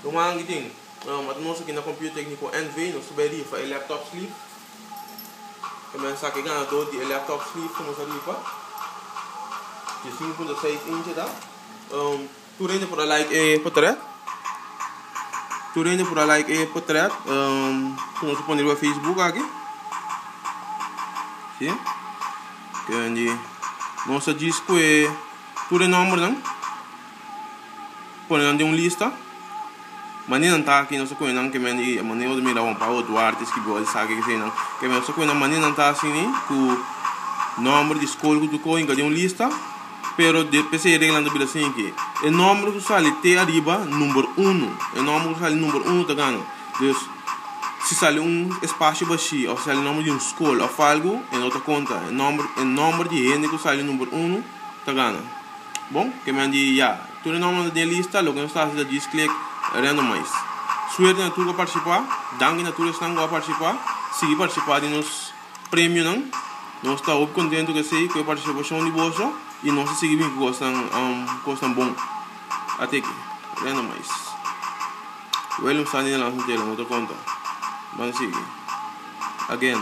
Ruman ki tin ata nos aki na Computer Tecnico NV nos ta bai rifa e laptop sleeve e mester saki e ganador di e laptop sleeve ku nos ta rifa di sinku punto seis inchi ta tur hende por a like e potret tur hende por a like e potret ku nos a pone riba Facebook aki si nos ta djis ku e tur e nombernan. pone nan den un lista mane nan ta aki nos ta kunenan ke men i mane bo ta mira Juan Pablo Duarte Esquibol esaki esaki nan ke men nos ta kunenan mane nan ta asini ku nòmber di skol ku tur kos hinka den un lista pero de p'esei e reglanan ta bira sin aki e nòmber ku sali te ariba number uno e nòmber ku sali number uno ta gana dus si sali un espasio bashi òf si sali nòmber di un skol òf algu e no ta konta e nòmber e nòmber di hende ku sali number uno. ta gana. Bon, ke men di ya, tur e nòmbernan ta den e lista, loke nos ta hasi ta djis klik Random Mais. Suerte na tur ku a partisipá, danki na tur esnan ku a partisipá, sigui partisipá di nos premionan, nos ta hopi kontentu ku esei, ku e partisipashon di boso i nos ta sigui bini ku kosnan kosnan bon. Ateki, Random Mais. William Sandy Nelansson Taylor no ta konta. Ban sigui. Again.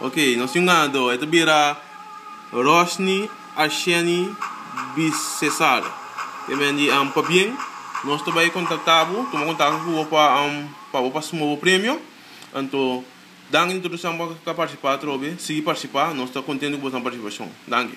Ok, nos tin un ganador. E ta bira Rosny Asheni Bicesar. E men di, um, pabien, nos ta bai contacta bo, tuma contacto cu bo pa, um, pa bo pa suma bo premio. Anto, danki di tur esnan cu a participa atrobe. Sigui participa, nos ta contento cu boso nan participacion. Danki.